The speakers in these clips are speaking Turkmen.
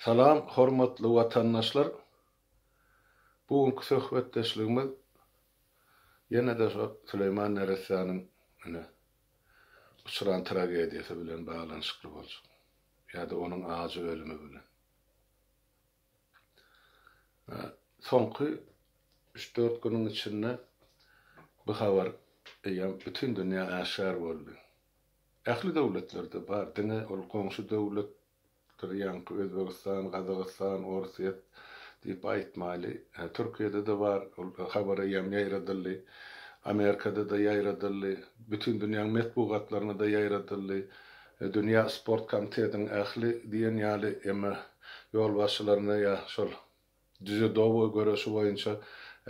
Salam hormatly watandaşlar! Bu günki söhbetdeşligimiz ýene-de şo Süleýman Neressäniň ine, uçran tragediýasy bilen baglanyşykly boljak. Ýa-da onuň ajy ölümi bilen. Soňky üç-dört günüň içinde bu habar eýýäm bütin dünýä äşgär boldy. Ähli döwletlerde bar diňe ol goňşy döwlet dur ýaňky Özbegistan, Gazagystan, Orsyýet diýip aýtmaýly. Türkiýede-de bar ol habar eýýäm ýaýradyldy. Amerikada-da ýaýradyldy. Bütin dünýäň metbugatlaryna-da ýaýradyldy. Dünýä sport komitetiň ähli diýen ýaly emma ýolbaşçylaryna ýa şol džudoboý göreşi boýunça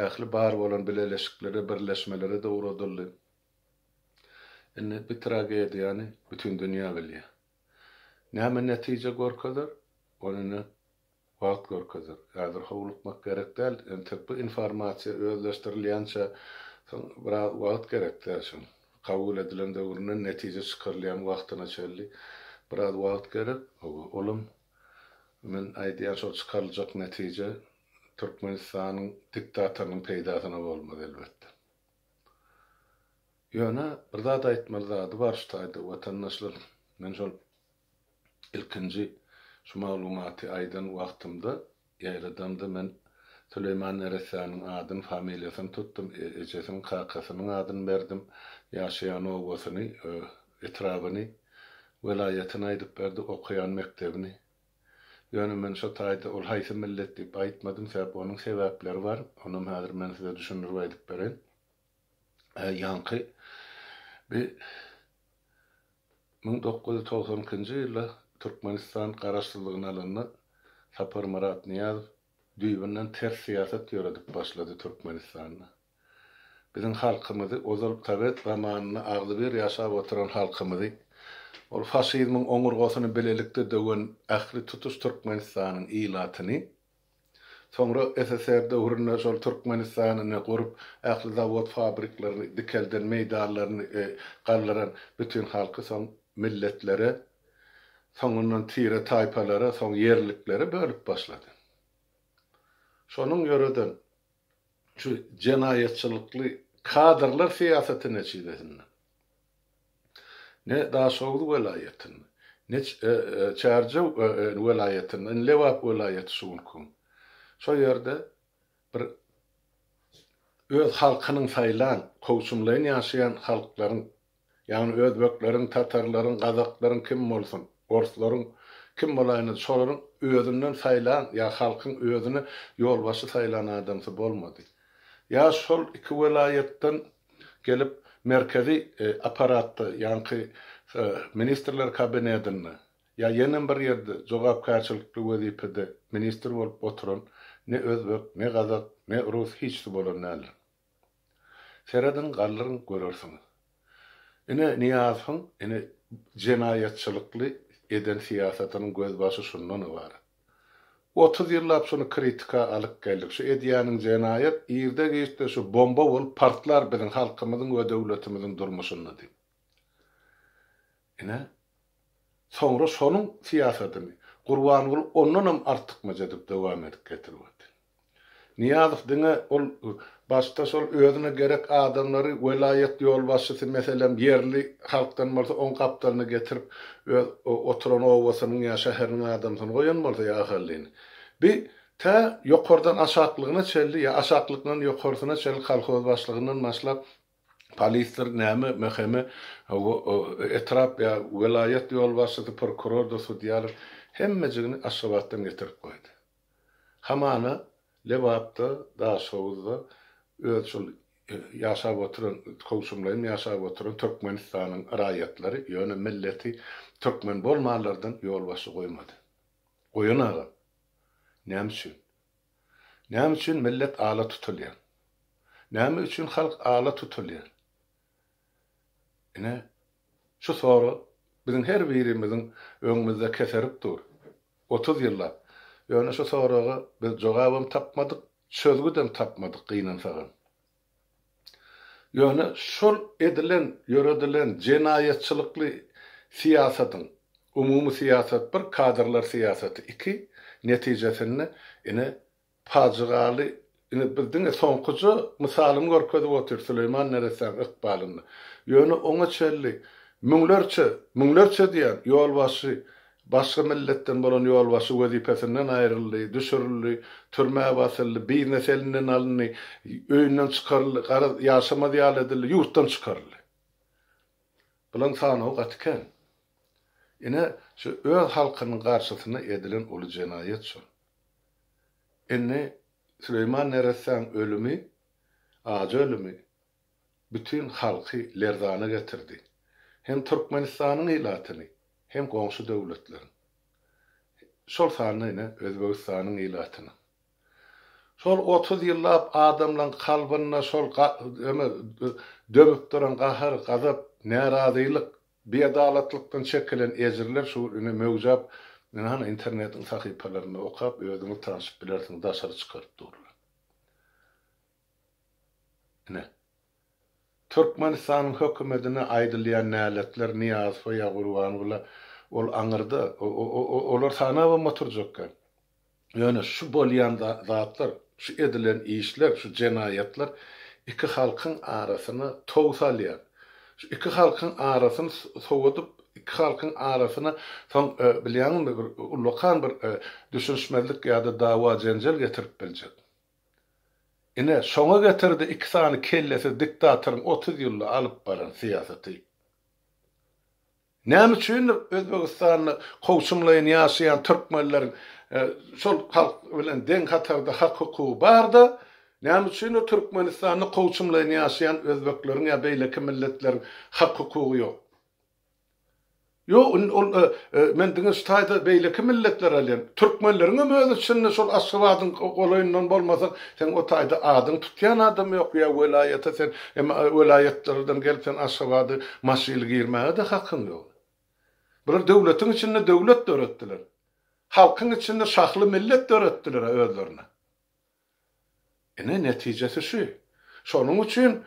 ähli bar bolan bileleşiklere birleşmelere-de ugradyldy. Indi bi tragediýany bütin dünýä bilýär. Näme netije görkezer, ony indi wagt görkezer. Häzir howlukmak gerek däl, entek bu informasiýa özleşdirilýänçä soň biraz wagt gerek däl şoň. Kabul edilen döwründen netije çykarylýan wagtyna çenli biraz wagt gerek. Hawa, olam men aýdýan şol çykaryljak netije Türkmenistanyň diktatorynyň peýdasyna bolmaz elbetde. Ýöne bir zat aýtmaly zady bar şu taýda watandaşlar. Men şol ilkinji şu maglumaty aýdan wagtymda, ýaýradamda men Süleýman Neressäniň adyny, familiýasyny tutdum, ejesiniň, kakasynyň adyny berdim, ýaşaýan obasyny, etrabyny, welaýatyny aýdyp berdi, okaýan mekdebini. Ýöne men şo taýda ol haýsy millet diýip aýtmadym, sebäp onuň sebäpleri bar, onam häzir men size düşündirip aýdyp bereýin. Ä, ýaňky bi müň dokuz ýüz togsan ikinji ýylda Türkmenistan garaşsyzlygyny alanda Saparmyrat Nyýazow düýbünden ters syýasat ýöredip başlady Türkmenistanda. Biziň halkymyzy, ozal sowet zamanynda agzybir ýaşap oturan halkymyzy, ol faşizmiň oňurgasyny bilelikde döwen ähli tutuş Türkmenistanyň ilatyny, soňra SSR döwründe şol Türkmenistanyny gurup, ähli zawod-fabriklaryny dikelden, meýdanlaryny galdyran bütin halky soň milletlere, soňundan tire-taýpalara, soň ýerliklere bölüp başlady. Şonuň ýöreden şu jenaýatçylykly kadrlar syýasaty netijesinde ne Daşoguz welaýatynda, ne Çärjew welaýatynda, indi Lebap welaýaty şu günki, şo ýerde bir öz halkynyň saýlan, kowçumlaýyn ýaşaýan halklaryň Ýagny özbekleriň, tatarlaryň, gazaklaryň kim bolsun, orslaryň kim bolaýyna şolaryň özünden saýlan ýa halkyň özüne ýolbaşçy saýlan adamsy bolmady. Ýa şol iki welaýatdan gelip merkezi apparatda ýaňky ministrler kabinedinde ýa ýenem bir ýerde jogapkärçilikli wezipede ministr bolup oturan ne özbek, ne gazak, ne rus hiçsi bolan däldir. Serediň galdyryň görersiňiz. Ine Nyýazowyň ine jenaýatçylykly eden syýasatynyň gözbaşy şundan ybarat. Otuz ýyllap şuny kritika alyp geldik. Şu edýäniň jenaýat irde giçde şu bomba bolup partlar biziň halkymyzyň we döwletimiziň durmuşynda diýip. Ine soňra şonuň syýasatyny Gurbanguly ondanam artykmaç edip dowam edip getirip otyr. Nyýazow diňe ol başda şol özüne gerek adamlary welaýat ýolbaşçysy meselem ýerli halkdan bolsa oň gapdalyna getirip öz oturan obasynyň ýa şäheriniň adamsyny goýan bolsa ýa ahallyny bi tä ýokardan aşaklygyna çelli ýa aşaklykndan ýokarsyna çelli kolhoz başlygyndan başlap polisdir näme mhme etrap ýa welaýat ýolbaşçysy prokurordyr sudýalar hemmejigini aşgabatdan getirip goýdy. Hamana, Lebapda, Daşoguzda öz şol ýaşap oturan, kowşumlaýyn ýaşap oturan Türkmenistanyň raýatlary, ýöne milleti türkmen bolmanlardan ýolbaşçy goýmady. Goýan agam. Näme üçin? Näme üçin millet ala tutulýar? Näme üçin halk ala tutulýar? Ine, şu sorag biziň her birimiziň öňümizde keserip dur. Otuz ýyllap. Ýöne şu soraga biz jogabam tapmadyk, çözgüdem tapmadyk gynansagam. Ýöne şol edilen, ýöredilen jenaýatçylykly syýasatyň, umumy syýasat bir, kadrlar syýasaty iki, netijesinde ine, Pajygaly, ine biz diňe soňkuja mysalyny görkezip otyr Süleýman neressäň ykbalyny. Ýöne oňa çenli müňlerçe, müňlerçe diýýän, ýolbaşçy, başga milletden bolan ýolbaşçy wezipesinden aýryldy, düşürildi, türmä basyldy, biznes elinden alyndy, öýünden çykaryldy, garaz, ýaşamaz ýaly edildi, ýurtdan çykaryldy. Bularyň sanawy gaty kän. Ine, şu öz halkynyň garşysyna edilen uly jenaýat şol. Indi Süleýman Neressäň ölümi, ajy ölümi bütin halky lerzana getirdi. Hem Türkmenistanyň ilatyny, hem goňşy döwletleriň, şol sanda ine Özbegistanyň ilatyny. Şol otuz ýyllap adamlaň kalbynda şol döwüp duran gahar, gazap, närazylyk Biadalatlykdan çekilen ejirler şu gün ine möwjap ine hany internetiň sahypalarynda okap özüňiz tanşyp bilersiňiz daşary çykaryp durlar. Ine. Türkmenistanyň hökümetine aýdylýan näletler Nyýazowa ýa Gurbanguly ol aňyrda o o o olar sanabam oturjak ýok. Ýöne şu bolýan zatlar, şu edilen işler, şu jenaýatlar iki halkyň arasyna tow salýar. Şu iki halkyň arasyny sowadyp, iki halkyň arasyna soň bilýäňizmi bir ullakan bir düşünişmezlik ýa-da dawa-jenjel getirip biljek. Ine, şoňa getirdi iki sany kellesiz diktatoryň otuz ýylda alyp baran syýasaty. Näme üçindir, Özbegistanda kowçumlaýyn ýaşaýan türkmenleriň şol halk bilen deň hatarda hak-hukugy bar-da, näme üçindir, Türkmenistanda kowçumlaýyn ýaşaýan özbekleriň ýa beýleki milletleriň hak-hukugy ýok? Ýo, ol, men diňe şu taýda beýleki milletleri alýan. Türkmenleriňem öz içinde şol Aşgabadyň golaýyndan bolmasaň, seň o taýda adyňy tutýan adam ýok ýa welaýata sen Emma welaýatlardan gelip sen Aşgabada maşyly girmäge-de hakyň ýok. Bular döwletiň içinde döwlet döretdiler. Halkyň içinde şahly millet döretdiler-ä özlerine. Ine netijesi şu. Şonuň üçin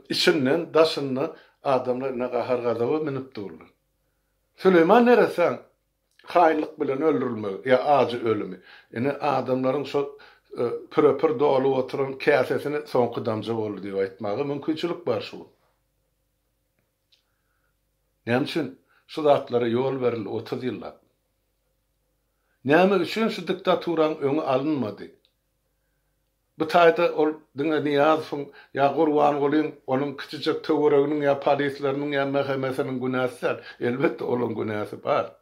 içinden, daşyndan adamlar ine gahar-gazaba münüp durlar. Süleýman neresäň Haýynlyk bilen öldürilmegi ýa ajy ölümi. Ine, adamlaryň şol püre-pür dolup oturan käsesine soňky damja boldy diýip aýtmaga mümkinçilik bar şu gün. Näme üçin şu zatlara ýol berildi otuz ýyllap? Näme üçin şu diktaturaň öňi alynmady? Bu taýda ol diňe Nyýazowyň ýa Gurbangulyň, onuň kiçijek töwereginiň ýa polisleriniň ýa MHM-siniň günäsi däl. Elbetde, olaryň günäsi bar.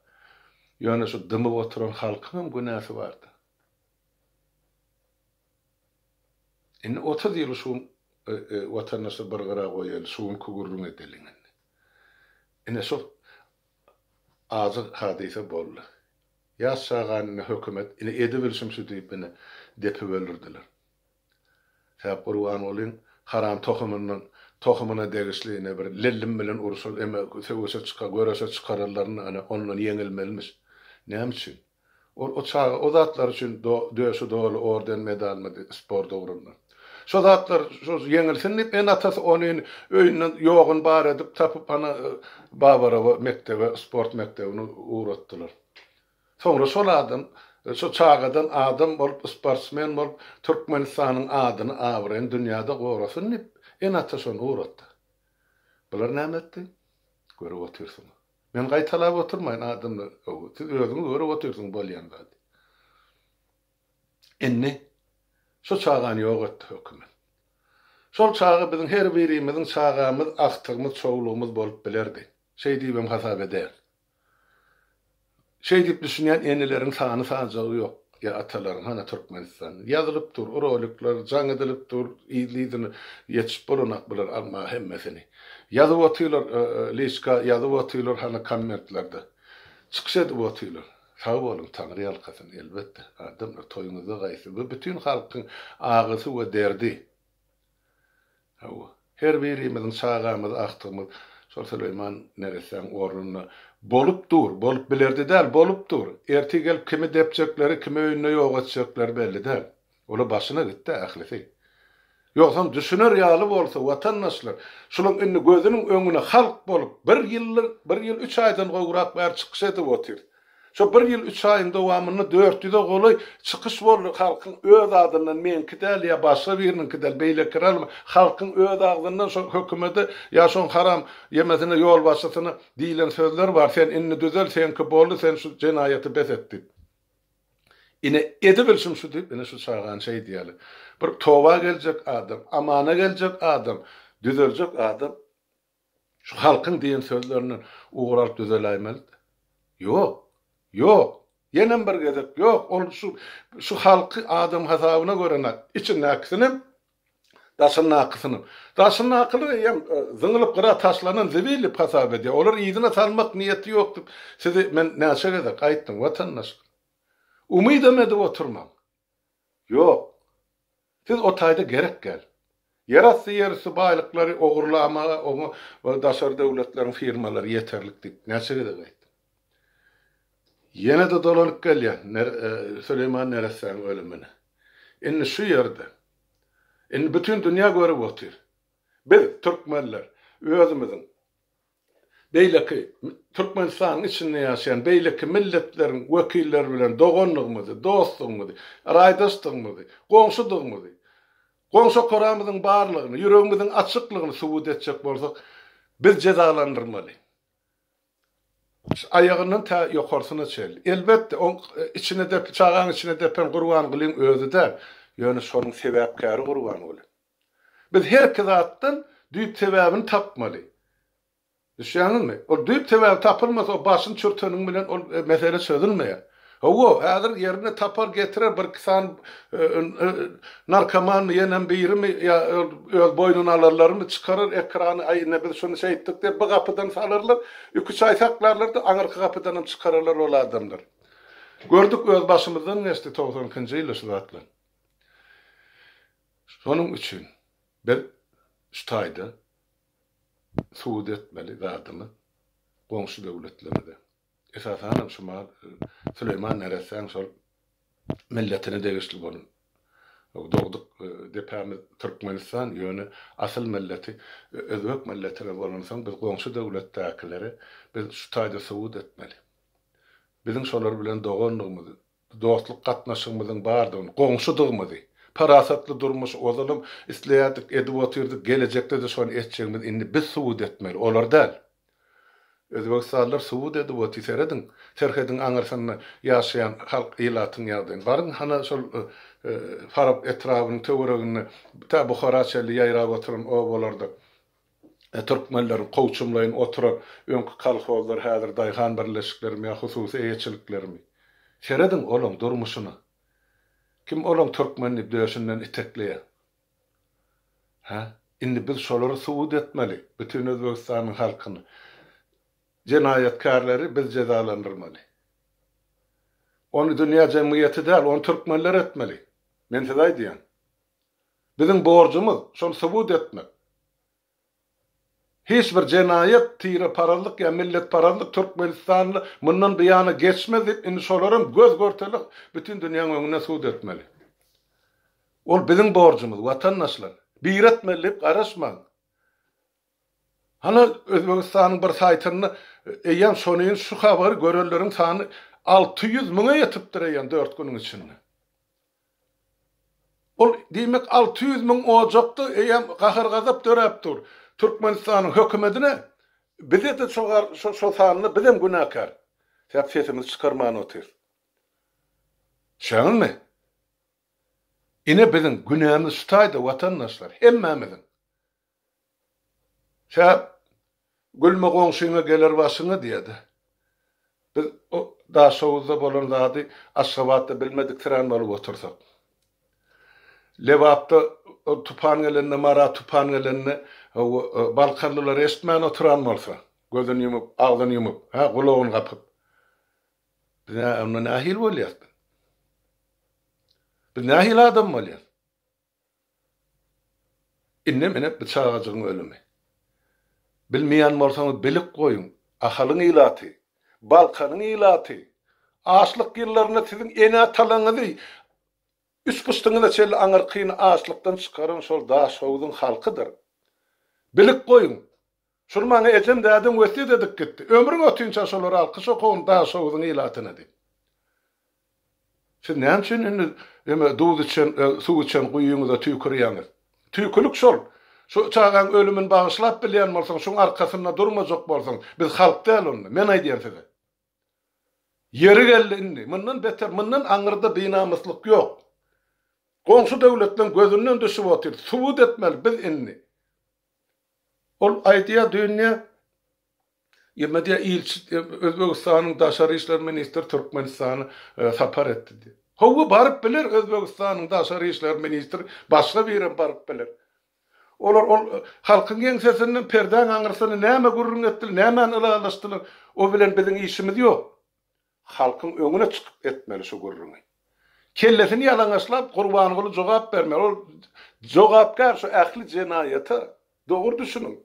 Ýöne şu dymyp oturan halkyň hem günäsi bar-da. Indi otuz ýyl şu watandaşlar bir gyra goýaýly, şu günki gürrüň edeliň indi. Ine, şol Azyk hadysa boldy. Ýaş çagany indi hökümet, indi edibilşim şu diýip indi depip öldürdiler. Sähep Gurbangulyň haram tohumynyň tohumyna degişli ine bir Lellim bilen urşa, söweşe çyka, göreşe çykararlarynda ine ondan ýeňilmelimiş. Näme üçin? Ol o çaga o zatlar üçin döşi doly orden medalmydy sport ugrunda. Şo zatlar şol ýeňilsin diýip ene-atasy ony öýünden ýogyn bar edip tapyp ana Babarowa mekdebe sport mekdebini ugratdylar. Soňra şol adam şo çagadan adam bolup sportsmen bolup Türkmenistanyň adyny abraýyny dünýäde gorasyn diýip ene-ata şony ugratdy. Bular näme etdi? Görüp otyrsyňyz. Men gaýtalap oturmaýyn adamlar gowy siz özüňiz görüp otyrsyňyz bolýan zady. Indi şu çagany ýok etdi hökümet. Şol çaga biziň her birimiziň çagamyz, agtygymyz, çowlugymyz bolup bilerdi. Şeý diýibem hasap edäýen. Şeý diýip düşünýän eneleriň sany sanjagy ýok ýa atalaryň hana Türkmenistan ýazylyp dur rolikler jaň edilip dur yzly-yzyna ýetişip bolanak bular almaga hemmesini ýazyp otylar liçka ýazyp otylar hana kommentlerde çykyş edip otylar sag boluň taňry ýalkasyn elbetde adamlar toýuňyzda gaýsy bu bütin halkyň agysy we derdi. Hawa, her birimiziň çagamyz, agtygymyz şol Süleýman neressäň ornunda bolup dur, bolup bilerdi däl, bolup dur. Ertir gelip kimi depjekleri, kimi öýünde ýok etjekleri belli däl. Ola başyna gitdi ählisi. Ýogsam düşüner ýaly bolsa, watandaşlar, şulaň indi gözüniň öňüne halk bolup, bir ýyldan, bir ýyl üç aýdan gowrak bäri çykyş edip otyrys. Şu bir ýyl üç aýyň dowamynda dört ýüze golaý çykyş boldy, halkyň öz adyndan, meňki däl ýa başga biriniňki däl, beýleki ralma, halkyň öz agzyndan şo hökümede ýa şoň haram ýemesine, ýolbaşçysyna diýlen sözler bar, sen indi düzel, seňki boldy, sen şu jenaýaty bes et diýip. Ine, edibilşim şu diýip, ine şu çagany şeý diýýärler. Bir toba geljek adam, amana geljek adam, düzeljek adam Şu halkyň diýen sözlerinden ugur alyp düzeläýmeli-de. Ýok. Ýok. Ýenem bir gezek ýok. Ol şu şu halky adam hasabyna görene içindäkisinem, daşyndakysynam. Daşyndakylar eýýäm zyňylyp gyra taşlanan zibil diýip hasap edýär. Olar yzyna salmak niýeti ýok diýip size men näçe gezek aýtdym, watandaşlar. Umydam edip oturmaň. Ýok. Siz o taýda gerek däl. Ýerasty ýerüsti baýlyklary ogurlamaga oňa daşary döwletleriň firmalary ýeterlik diýip näçe gezek aýtdym. Ýene-de dolanyp gelýän Süleýman neressäniň ölümine. Indi şu ýerde. Indi bütin dünýä görüp otyr. Biz, türkmenler, özümiziň Beýleki, Türkmenistanyň içinde ýaşaýan beýleki milletleriň wekilleri bilen doganlygymyzy, dostlugymyzy, raýdaşdygymyzy, goňşudygymyzy, goňşokaramyzyň barlygyny, ýüregimiziň açyklygyny subut etjek bolsak, biz jezalandyrmaly. Aýagyndan tä ýokarsyna çenli. Elbetde, oň içine dep, çagaň içine depen Gurbangulyň özi däl, ýöne şonuň sebäpkäri Gurbanguly. Biz herki zatdan düýp sebäbini tapmaly. Düşýäňizmi? Ol düýp sebäbi tapylmasa, o başyny çürteniň bilen ol mesele çözülmeýär. Hawa, häzir ýerine tapar, getirer, birki sany narkomanmy, ýenem birimi ýa öz boýnuna alanlarymy çykarar ekrany, aý, ine, biz şuny şeýtdik diýip, bu gapydan salarlar, iki-üç aý saklarlar-da, aňyrky gapydanam çykararlar ol adamlary. Gördük, öz başymyzdan geçdi togsan ikinji ýylda şu zatlar. Şonuň üçin biz şu taýda subut etmeli zadymyz goňşy döwletlerimize, esasanam şu mal Süleýman neressäň şol milletine degişli bolan dogduk depämiz Türkmenistan, ýöne asyl milleti özbek milletine bolansoň biz goňşy döwletdäkilere biz şu taýda subut etmeli. Biziň şolar bilen dogandygymyzy, dostluk gatnaşygymyzyň bardygyny, goňşudygymyzy, parasatly durmuşy ozalam isleýärdik, edip otyrdyk, gelejekde-de şony etjegimizi indi biz subut etmeli, olar däl. Özbegistanlylar subut edip otyr, serediň, serhediň aňyrsynda ýaşaýan halk, ilatyň ýagdaýyny. Baryň, hana şol Farap etrabynyň töwereginde, tä Buhara çenli ýaýrap oturan obalarda. Türkmenleriň kowçumlaýyn oturan öňki kolhozlar häzir daýhan birleşiklerimi ýa hususy eýeçiliklerimi? Serediň olaň durmuşyna. Kim olaň türkmen diýip döşünden itekleýän? Hä? Indi biz şolary subut etmeli, bütin Özbegistanyň halkyny. Jenaýatkärleri biz jezalandyrmaly. Ony dünýä jemgyýeti däl, ony türkmenler etmeli. Men size aýdýan. Biziň borjumyz şony subut etmek. Hiç bir jenaýat, tireparazlyk ýa milletparazlyk Türkmenistanda mundan buýana geçmez diýip indi şolaram göz görtele bütin dünýäň öňünde subut etmeli. Ol biziň borjumyz, watandaşlar. Biri etmeli diýip garaşmaň. Hany Özbegistanyň bir saýtynda eýýäm şonuýn şu habary görenleriň sany alty ýüz müňe ýetipdir eýýäm dört günüň içinde. Ol, diýmek, alty ýüz müň ojakda eýýäm gahar-gazap döräp dur. Türkmenistanyň hökümedine, bize-de şo sanda bizem günäkär. Sähel sesimizi çykarman otyrys. Düşýäňizmi? Ine biziň günämiz şutaýda, watandaşlar, hemmämiziň. Kä, gülme goňşyňa geler başyňa diýýärdi. Biz o Daşoguzda bolan zady Aşgabatda bilmediksirän bolup otursak. Lebapda ol tupan gelende, Mara tupan gelende balkanlylar eşitmän oturan bolsa, gözüni ýumup, agzyny ýumup, hä, gulagyny gapyp. Biz onda nähili bolýarys biz? Biz nähili adam bolýarys? Indem ene bu çagajygyň ölümi. Bilmeýän bolsaňyz bilip goýuň. Ahalyň ilaty, Balkanyň ilaty açlyk ýyllarynda siziň ene-atalaňyzy üç pyşdyňyza çenli aňyrkyny açlykdan çykaran şol Daşhowzuň halkydyr. Bilip goýuň. Şuny maňa ejem dädem wesýet edip gitdi. Ömrüň ötinçä şolary alkyş okagyn Daşoguzyň ilatyna diýip. Siz näme üçin indi eme duz içen, suw içen guýyňyza tüýkürýäňiz? Tüýkülik şol. Şu çagaň ölümin bagyşlap bilýän bolsaň, şuň arkasynda durmajak bolsaň, biz halk däl onda. Men aýdýan size. Ýeri geldi indi. Mundan beter, mundan aňyrda binamyslyk ýok. Goňşy döwletleň gözünden düşüp otyr. Subut etmeli biz indi. Ol aýdýar, dünýä Ýermedia ilçi Özbegistanyň daşary işler ministri Türkmenistana sapar etdi diýip. Hawa, baryp biler Özbegistanyň daşary işler ministri, başga birem baryp biler. Olar ol halkyň ýeňsesinden perdäň aňyrsyny näme gürrüň etdiler, nämäni ylalaşdylar, o bilen biziň işimiz ýok. Halkyň öňüne çykyp etmeli şu gürrüňi. Kellesini ýalaňaçlap Gurbanguly jogap bermeli. Ol jogapkär şu ähli jenaýata. Dogry düşüniň.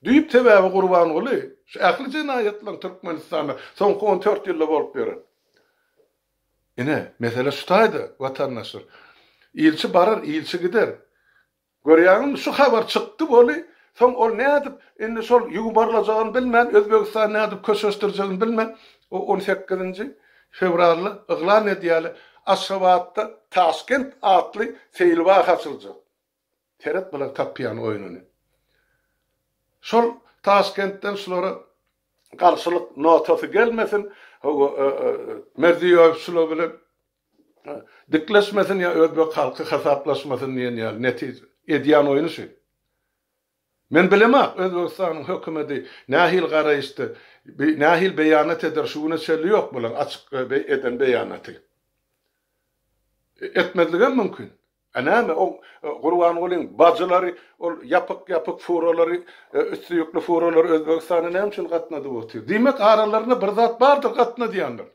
Düýp sebäbi Gurbanguly şu ähli jenaýatlaryň Türkmenistanda soňky on dört ýylda bolup ýören. Ine, mesele şu taýda, watandaşlar. Ilçi barar, ilçi gider. Görýäňizmi şu habar çykdy boly soň ol nädip indi şol ýuwmarlajagyn bilmän Özbegistany nädip köşeşdirjegini bilmän o on sekizinji fewralda yglan edýäli Aşgabatda Taşkent atly seýilbag açyljak seret bilen tapýan oýnuny şol Taşkentden şulara garşylyk notasy gelmesin Merziýoýew şular bilen Dikleşmesin ýa özbek halky hasaplaşmasyn diýen ýaly netije. Edýän oýny şu. Men bilemok Özbegistanyň hökümedi nähili garaýyşda bi nähili beýanat eder şu güne çelli ýok bulaň açyk beý eden beýanaty. Etmezligem mümkin. A näme o Gurbangulyň bajylary ol ýapyk ýapyk furalary üsti ýükli furalary Özbegistana näme üçin gatnadyp otyr. Diýmek aralarynda bir zat bardyr gatnadýanlar.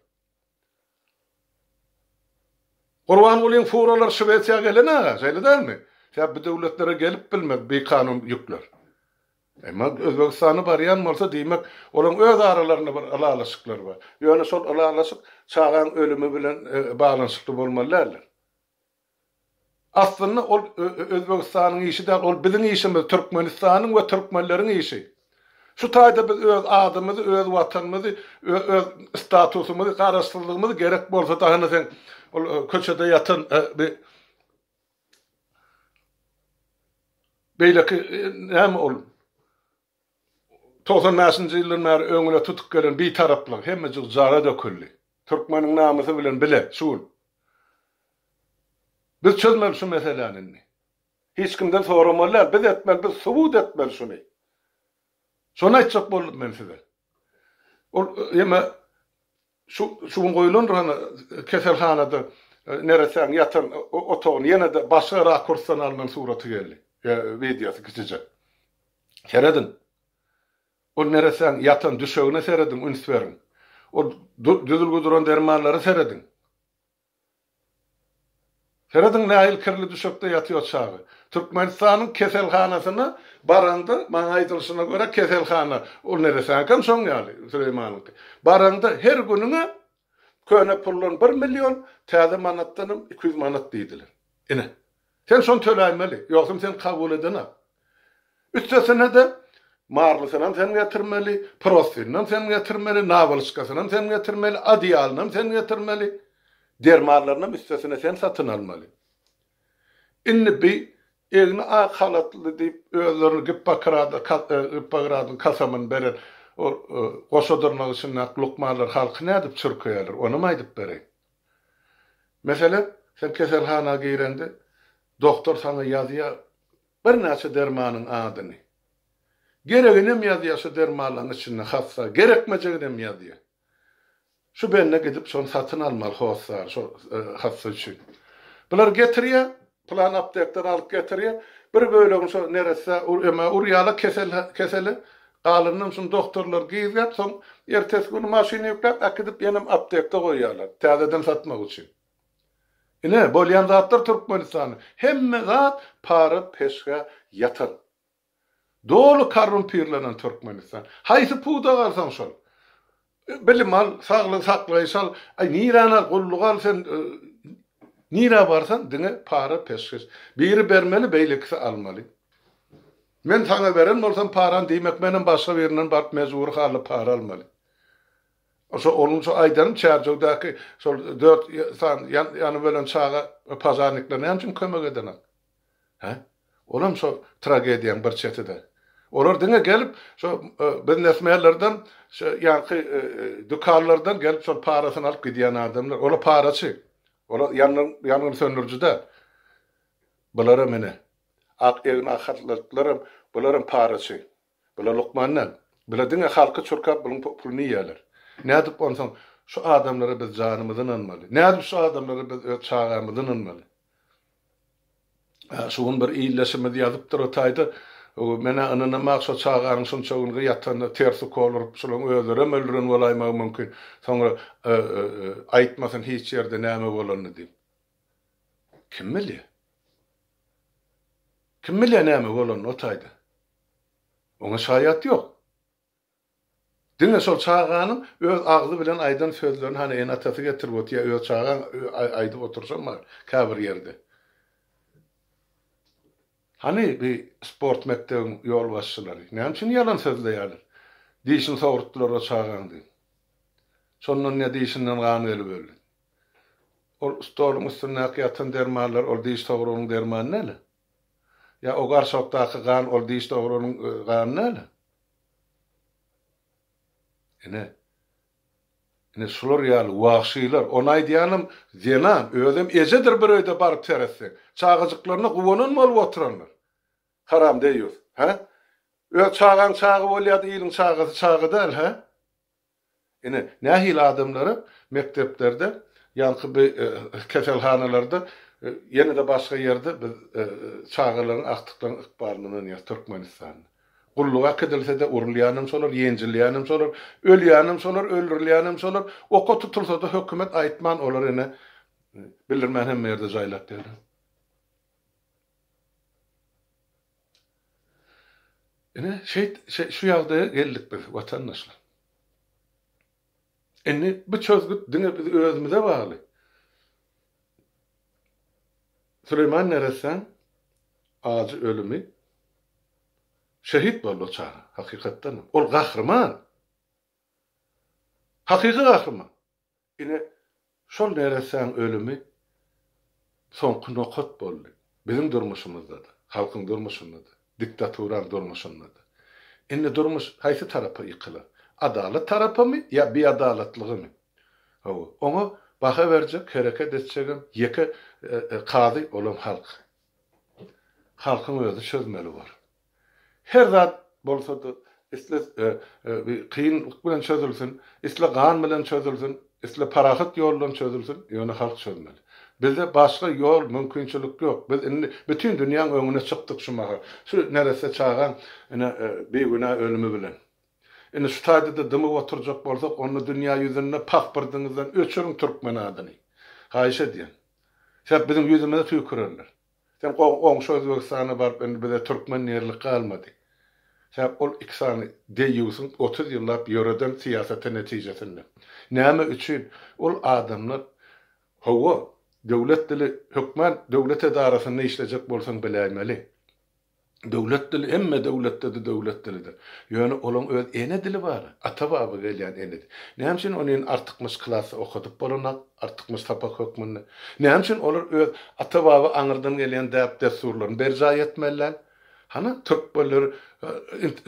Gurbangulyň furalary Şwesiýa gelen aga, şeýle dälmi? Sebäbi bu döwletlere gelip bilmez bikanun ýükler. Emma Özbegistana barýan bolsa, diýmek, olaryň öz aralarynda bir ylalaşyklary bar. Ýöne şol ylalaşyk çagaň ölümi bilen baglanyşykly bolmaly däldir. Aslynda ol Özbegistanyň işi däl, ol biziň işimiz, Türkmenistanyň we türkmenleriň işi. Şu taýda biz öz adymyzy, öz watanymyzy, öz statusymyzy, garaşsyzlygymyzy gerek bolsa da hany seň ol köçede ýatan bi beýleki näme ol? Togsan bäşinji ýyldan bäri öňüne tutup gelen Bitaraplyk hemmejik jara döküldi. Türkmeniň namysy bilen bile şu gün. Biz çözmeli şu meseläni indi. Hiç kimden soramaly däl, biz etmeli, biz subut etmeli şuny. Şony aýtjak boldum men size. Ol ýeme Şu şu gün goýulandyr hany keselhanada neresäň ýatan otagyny ýene-de başga rakursdan alnan suraty geldi ýa wideosy kiçijek. Serediň. Ol neresäň ýatan düşegine serediň üns beriň. Ol düzülgi duran dermanlara serediň. Serediň nähili kirli düşekde ýatýar çaga. Türkmenistanyň keselhanasyna baraňda, maňa aýdylyşyna görä keselhana ol neresäňkam şoň ýaly, Süleýmanyňky. Baraňda her günüňe köne puldan bir million, täze manatdanam iki ýüz manat diýdiler. Ine. Sen şony töläýmeli, ýogsam seni kabul edenak. Üstesine-de, marlysynam sen getirmeli, prostinynam sen getirmeli, nawalçkasynam sen getirmeli, adeýalynam sen getirmeli, dermanlarynam üstesine sen satyn almaly. Indi bi egni ak halatly diýip özlerini Gippokrada Gippokradyň kasamyny beren ol goşa dyrnak içindäki lukmanlar halky nädip çürkeýärler, onam aýdyp bereýin. Meselem, sen keselhana gireňde, doktor saňa ýazýar birnäçe dermanyň adyny. Gereginem ýazýar şu dermanlaryň içinde hassa, gerekmejeginem ýazýar. Şu bende gidip şony satyn almaly hossary, şo hassa üçin. Bular getirýär, Pylan aptekden alyp getirýä. Bir bölegini şo neresse emä urýala kesel keseli galyndan şuny doktorlar gizgäp soň ertesi güni maşyna ýükläp äkidip ýenem aptekde goýýalar täzeden satmak üçin. Ine bolýan zatlar Türkmenistanda hemme zat para peşgä ýatan. Doly korrumpirlenen Türkmenistan. Haýsy pudak alsaň şol. Bilim al, saglygy saklaýyş al, aý niräni al, gulluk al sen nirä barsan diňe para peşgeş. Biri bermeli beýlekisi almaly. Men saňa beren bolsam parany diýmek menem başga birinden baryp mejbury hally para almaly. Şo onuň üçin aýdanym Çärjewdäki şol dört sany ýanyp ölen çaga pažarnikler näme üçin kömek edenok. Hä? Olam şo tragediýaň bir çetidir. Olar diňe gelip, şo biznesmenlerden, şo ýanky dükanlardan gelip şol parasyny alyp gidýän adamlar. Olar paraçy. Olar ýangyn söndüriji däl. Bularam ine, ak egin ak haltlyklaram, bularam paraçy. Bular lukman däl. Bular diňe halky çurkap bulyň puluny iýýärler. Nädip onsoň şu adamlara biz janymyzy ynanmaly? Nädip şu adamlara biz öz çagamyzy ynanmaly? Şu gün bir ildeşimiz ýazypdyr o taýda, Men-ä ynanam-ak şo çaganyň şunça gün gyýatanda ters ukol urup, şularyň özlerem öldüren bolaýmagy mümkin, soňra aýtmasyn hiç ýerde näme bolanyny diýip. Kim bilýär? Kim bilýär näme bolanyny o taýda? Oňa şaýat ýok. Diňe şol çaganyň öz agzy bilen aýdan sözlerini hany ene-atasy getirip otyr ýa öz çagaň aýdyp oturşam bar käbir ýerde. Hany bi sport mekdebiň ýolbaşçylary? Näme üçin ýalan sözleýärler? Dişini sogurtdylar o çagaň diýip. Şondan ýa dişinden gan gelip öldi. Ol stoluň üstündäki ýatan dermanlar ol diş sogrugynyň dermany däl-ä. Ýa o garsokdaky gan ol diş dogranyň gany näle? Ine, ine şular ýaly wagşylar, ony aýdýanym zenan, özem ejedir bir öýde baryp seretseň. Çagajyklaryna guwanan bolup oturanlar. Haram deýýus, hä? Öz çagaň çaga bolýada iliň çagasy çaga däl, hä? Ine, nähili adamlara mekdeplerde, ýaňky bi keselhanalarda, ýene-de başga ýerde biz çagalaryň, agtyklaryň ykbalyny ynanýarys Türkmenistanda. Gulluga äkidilse-de, urulýanem şolar, ýenjilýänem şolar, ölýänem şolar, öldürilýänem şolar, oka tutulsa-da hökümet aýtman, olar ine, bildirmän hemme ýerde jaýlap ýör. Ine, şeýt, şu ýagdaýa geldik biz, watandaşlar. Indi bu çözgüt diňe biz özümize bagly. Süleýman neressäň ajy ölümi, şehit boldy o çaga, hakykatdanam. Ol gahryman. Hakyky gahryman. Ine, şol neressäň ölümi soňky nokat boldy. Biziň durmuşymyzda-da, halkyň durmuşynda-da, diktaturaň durmuşynda-da. Indi durmuş haýsy tarapa ýykylar? Adalat tarapamy ýa biadalatlygymy? Hawa, oňa baha berjek, hereket etjegem ýeke kazy, olam halk. Halkyň özi çözmeli bor. Her zat bolsa-da, isle kynlyk bilen çözülsin, isle gan bilen çözülsin, isle parahat ýol bilen çözülsin, ýöne halk çözmeli. Bizde başga ýol, mümkinçilik ýok. Biz indi bütin dünýäň öňüne çykdyk şu mahal. Şu neresse çagaň, ine, bigünä ölümi bilen. Indi şu taýda-da dymyp oturjak bolsak, onda dünýä ýüzünde paspyrdyňyzdan öçüriň türkmen adyny. Haýyş edýän. Sebäp biziň ýüzümize tüýkürerler. Sen goňşy Özbegistana baryp indi bize türkmen diýerlik galmady. Sebäp ol iki sany deýýusyň otuz ýyllap ýöreden syýasaty netijesinde. Näme üçin ol adamlar Hawa, döwlet dili hökman döwlet edarasynda işlejek bolsaň biläýmeli. Döwlet dili hemme döwletde-de döwlet dilidir. Ýöne olaň öz ene dili bar, ata-baba gelýän ene dili. Näme üçin ony indi artykmaç klasda okadyp bolanok, artykmaç sapak hökmünde? Näme üçin olar öz ata-baba aňyrdan gelýän däp-dessurlaryny berjaý etmeliler? Hana, türkmenler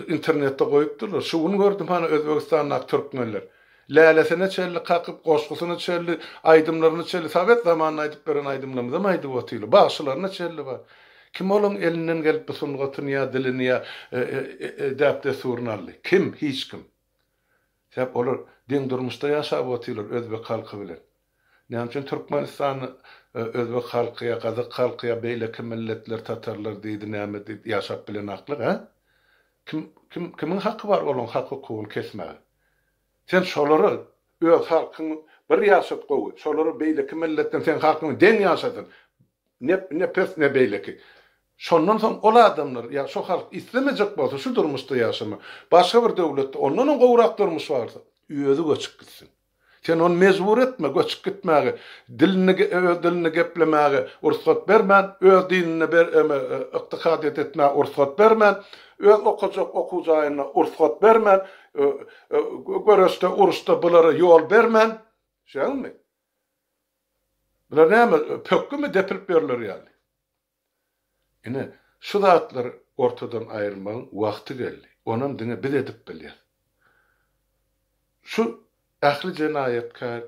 internetde goýupdyrlar. Şu gün gördüm, hany, Özbegistandaky türkmenler. Lälesine çenli kakyp, goşgusyna çenli, aýdymlaryna çenli, sowet zamanynda aýdyp beren aýdymlarymyzam aýdyp otyly, bagşylaryna çenli bar. Kim olaň elinden gelip bu sungatyny ýa dilini ýa däp-dessuryny aldy? Kim? Hiç kim. Sebäp olar deň durmuşda ýaşap otylar özbek halky bilen. Näme üçin Türkmenistanda özbek halky ýa gazak halky ýa beýleki milletler tatarlar diýdi näme diýdi ýaşap bilenaklyk hä? Kim kim kimiň haky bar olaň hak hukugyny kesmäge? Sen şolara öz halkyň bir ýaşat gowy şolara beýleki milletden seň halkyň deň ýaşasyn ne ne pes ne beýleki şondan soň ol adamlar ýa şo halk islemejek bolsa şu durmuşda ýaşama başga bir döwletde ondanam gowrak durmuş barsa özi göçüp gitsin. Sen ony mejbur etme, göçüp gitmäge, dilini, öz dilini geplemäge rugsat bermän, öz dinine ber, ykdykadyýet etmäge rugsat bermän, öz okajak okuw jaýyna rugsat bermän, göreşde, uruşda bulara ýol bermän, şeňňi? Bular näme, pökgimi depilip ýörler ýaly? Ine, şu zatlary ortadan aýyrmagyň wagty geldi. Onam diňe biz edip bilýäs. Şu ähli jenaýatkär,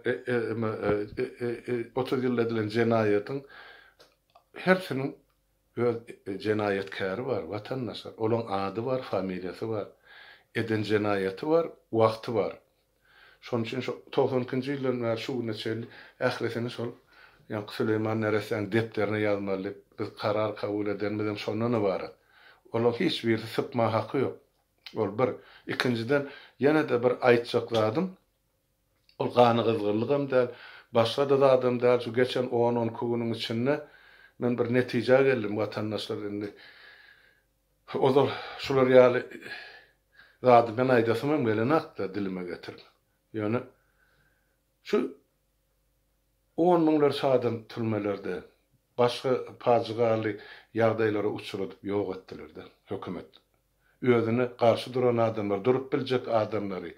otuz ýylda edilen jenaýatyň hersiniň öz jenaýatkäri bar, watandaşlar. Olaň ady bar, familiýasy bar. Eden jenaýaty bar, wagty bar. Şonuň üçin şu togsan ikinji ýyldan bäri şu güne çenli ählisini şol ýaňky Süleýman neressäniň depderine ýazmaly diýip, biz karar kabul edenimizem şondan ybarat. Olaryň hiç birisi sypma haky ýok. Ol bir. Ikinjiden, ýene-de bir aýtjak zadym, ol ganygyzgynlygam däl, başga-da zadam däl, şu geçen on-on iki günüň içinde men bir netijä geldim, watandaşlar indi Ozal şular ýaly zady men aýdasymam gelenokdy dilime getirip. Ýöne şu on müňlerçe adam türmelerde, başga pajygaly ýagdaýlara uçradyp ýok etdiler-de hökümet. Özüne garşy duran adamlar, durup biljek adamlary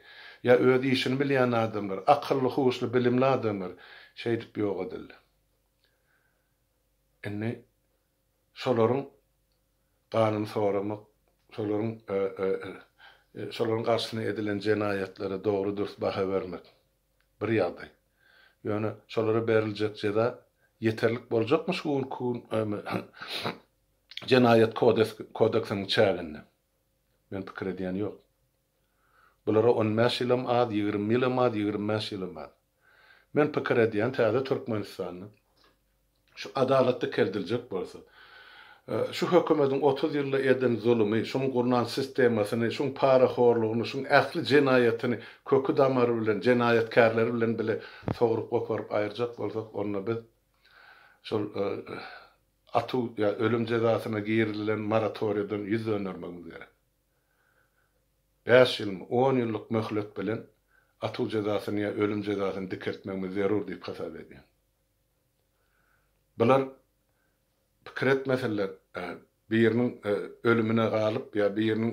ýa öz işini bilýän adamlar, akylly-huşly, bilimli adamlar şeýdip ýok edildi. Indi şolaryň ganyny soramak, şolaryň şolaryň garşysyna edilen jenaýatlara dogry-dürs baha bermek bir ýagdaý. Ýöne şolara beriljek jeza ýeterlik boljakmy şu günki Jenaýat kodeksiniň çäginde? Men pikir edýän ýok. Bulara on bäş ýylam az, ýigrimi ýylam az, ýigrimi bäş ýylam az. Men pikir edýän täze Türkmenistanda şu adalat dikeldiljek bolsa, şu hökümediň otuz ýylda eden zulumy, şuň gurnan sistemasyny, şuň parahorlugyny, şuň ähli jenaýatyny köki damary bilen, jenaýatkärleri bilen bile sogrup goparyp aýyrjak bolsak, onda biz şol atuw ýa ölüm jezasyna girizilen moratoriýadan ýüz döndermegimiz gerek. Bäş ýylmy, on ýyllyk möhlet bilen atuw jezasyny ýa ölüm jezasyny dikeltmegimiz zerur diýip hasap edýän. Bular pikir etmeseler, biriniň ölümine galyp ýa biriniň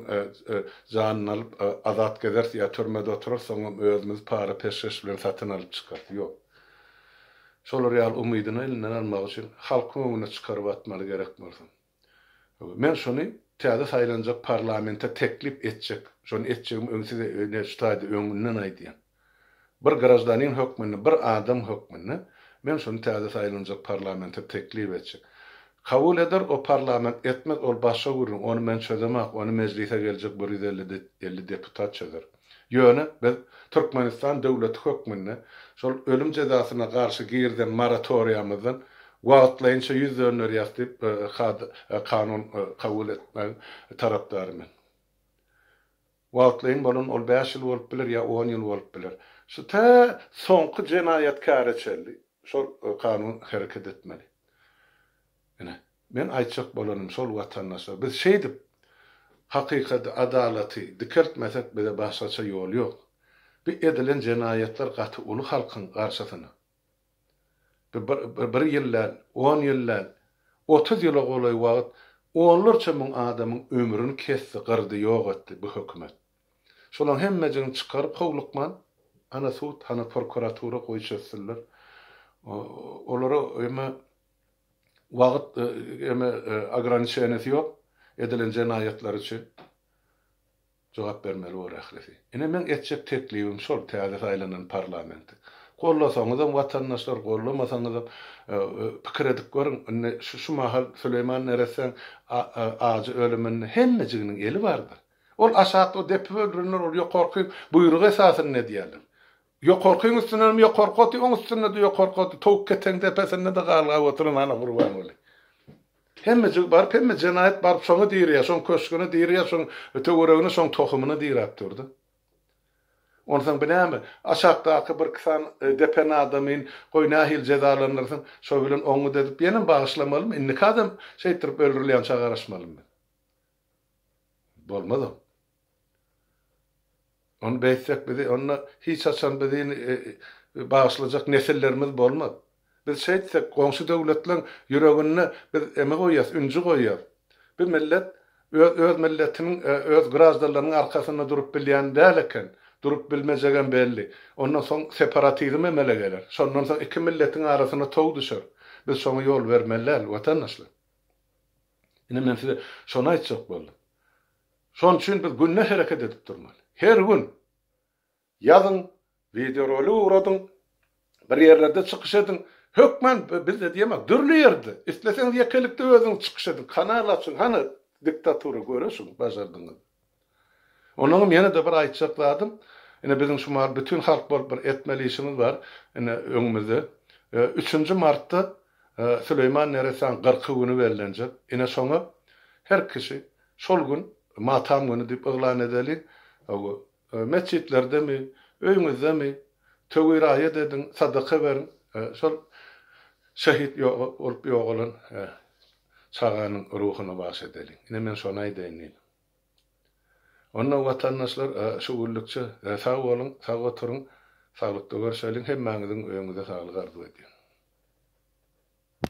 janyny alyp azat gezeris ýa türmede oturarys, soňam özümizi para peşgeş bilen satyn alyp çykarys. Ýok. Şolar ýaly umydyny elinden almak üçin halkyň öňüne çykaryp atmaly gerek bolsa. Men şony täze saýlanjak parlamente teklip etjek, şony etjegimi öň size ine ştaýda öňünden aýdýan. Bir graždanin hökmünde, bir adam hökmünde men şony täze saýlanjak parlamente teklip etjek. Kabul eder o parlament, etmez ol başga gürrüň, ony men çözemak, ony mejlise geljek bir ýüz elli elli deputat çözer. Ýöne biz Türkmenistan döwleti hökmünde şol ölüm jezasyna garşy girizen moratoriýamyzdan wagtlaýynça ýüz dönderýäs diýip, kanun kabul etmegiň tarapdary men. Wagtlaýyn bolan ol bäş ýyl bolup biler ýa on ýyl bolup biler. Şu tä soňky jenaýatkäre çenli şol kanun hereket etmeli. Ine, Men aýtjak bolanym şol watandaşlar biz şeýdip hakykady adalaty dikeltmesek bize başgaça ýol ýok bi edilen jenaýatlar gaty uly halkyň garşysyna bi bir bir ýyl däl on ýyl däl otuz ýyla golaý wagyt onlarça müň adamyň ömrüni kesdi gyrdy ýok etdi bu hökümet şolaň hemmejigini çykaryp howlukman hana sud hana prokuratura goý çözsünler olara emma Wagyt eme ograniçeniýasy ýok edilen jenaýatlar üçin jogap bermeli bor ählisi. Ine meň etjek teklibim şol täze saýlanan parlamenti gollasaňyzam watandaşlar gollamasaňyzam pikir edip görüň indi şu şu mahal Süleýman neressäň ajy ölüminde hemmejiginiň eli bardyr. Ol aşakda depip öldürenler ol ýokarky buýruk esasynda edýärler. Ýokarkyň üstünden ýokarky oty, oň üstünde-de ýokarky oty, towuk ketegiň depesinde-de galgap oturan hany Gurbanguly. Hemmejigi baryp, hemme jenaýat baryp şoňa dirýär, şoň köşgüne dirýär, şoň töweregine, şoň tohumyna diräp dur-da. Onsoň bu näme? Aşakdaky birki sany depen adamyn, goý, nähili jezalandyrsaň, şo bilen oňňut edip ýenem bagyşlamalymy? Indiki adam şeýtdirip öldürilýänçä garaşmalymy? Bolmazam. Ony beýtsek bizi onda hiç haçan bizi bagyşlajak nesillerimiz bolmaz. Biz şeýtsek goňşy döwletleriň ýüreginde biz eme goýýas, ünji goýýas. Bu millet öz öz milletiniň öz graždanlarynyň arkasynda durup bilýän däl eken. Durup bilmejegem belli. Ondan soň separatizm emele geler. Şondan soň iki milletiň arasyna tow düşer. Biz şoňa ýol bermeli däl watandaşlar. Ine men size şony aýtjak boldum. Şon üçin biz günde hereket edip durmaly. Her gün ýazyň, wideorolik ugradyň, bir ýerlerde çykyş ediň. Hökman bizde diýemok, dürli ýerde. Isleseňiz ýekelikde özüňiz çykyş ediň, kanal açyň, hany diktatura göreşiň bajardygyňyz. Onnoňam ýene-de bir aýtjak zadym, ine, biziň şu mahaly bütin halk bolup bir etmeli işimiz bar, ine, öňümizde üçünji martda Süleýman Neresanyň kyrky güni bellenjek. Ine, şoňa her kişi şol gün matam güni diýip yglan edeliň. Hawa, metjitlerdemi, öýüňizdemi, töwi raýat ediň, sadaka beriň. Şol şehit bolup ýogalan çaganyň ruhuna bagyş edeliň. Ine, men şony aýdaýyn diýdim. Onda watandaşlar şu günlükçe sag boluň, sag oturyň, saglykda görşeliň, hemmäňiziň öýüňize saglyk arzuw edýän.